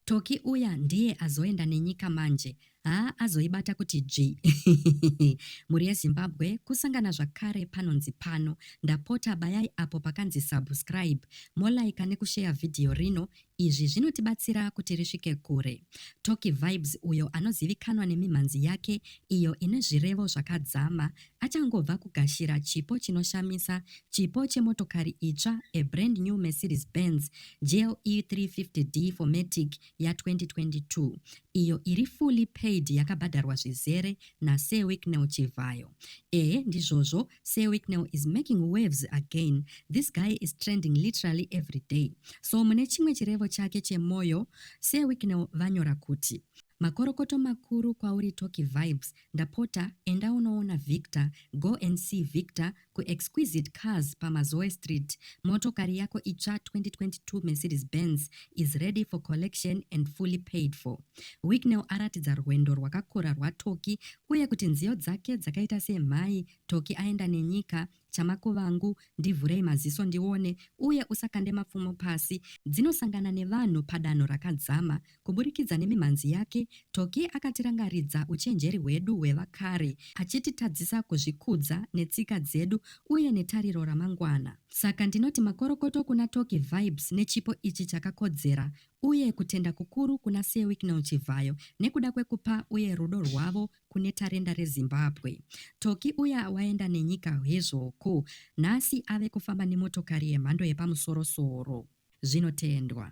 Tocky uya ndiye azoenda nenyika manje haa azoibata kuti dzvii mhuri yezimbabwe kusangana zvakare panonzi pano ndapota bayai apo pakanzi subscribe molaika nekusheya vhidhiyo rino izvi zvinotibatsira kuti risvike kure toki vibes uyo anozivikanwa nemimhanzi yake iyo ine zvirevo zvakadzama achangobva kugashira chipo chinoshamisa, chipo chemotokari itsva, a brand new Mercedes Benz GLE 350D 4MATIC ya 2022, iyo iri fully paid yakabhadharwa zvizere naSir Wicknell Chivhayo. Ehe ndizvozvo, Sir Wicknell is making waves again, this guy is trending literally every day. So mune chimwe chirevo chake chemoyo, Sir Wicknell vanyora kuti. Makorokoto makuru kwauri Tocky Vibes ndapota enda unoona Victor go and see Victor ku Exquisite Cars pa Mazoe Street motokari yako itsva 2022 Mercedes Benz is ready for collection and fully paid for Wicknell aratidza rwendo rwakakura rwaTocky uye kuti nziyo dzake dzakaita sei mhai Tocky aenda nenyika Chamako vangu, ndivhurei maziso ndione, uye usakande mapfumo pasi. Dzinosangana nevanhu padanho rakadzama. Kuburikidza nemimhanzi yake, Tocky akatirangaridza uchenjeri hwedu hwevakare, achititadzisa kuzvikudza netsika dzedu uye netariro ramangwana. Saka ndinoti makorokoto kuna Tocky Vibes nechipo ichi chakakodzera, uye kutenda kukuru kuna Sir Wicknell Chivhayo nekuda kwekupa uye rudo rwavo kune tarenda reZimbabwe. Toki uya waenda nenyika hezvo ko nhasi ave kufamba nemotokari yemhando yepamusoro soro. Zvinotendwa.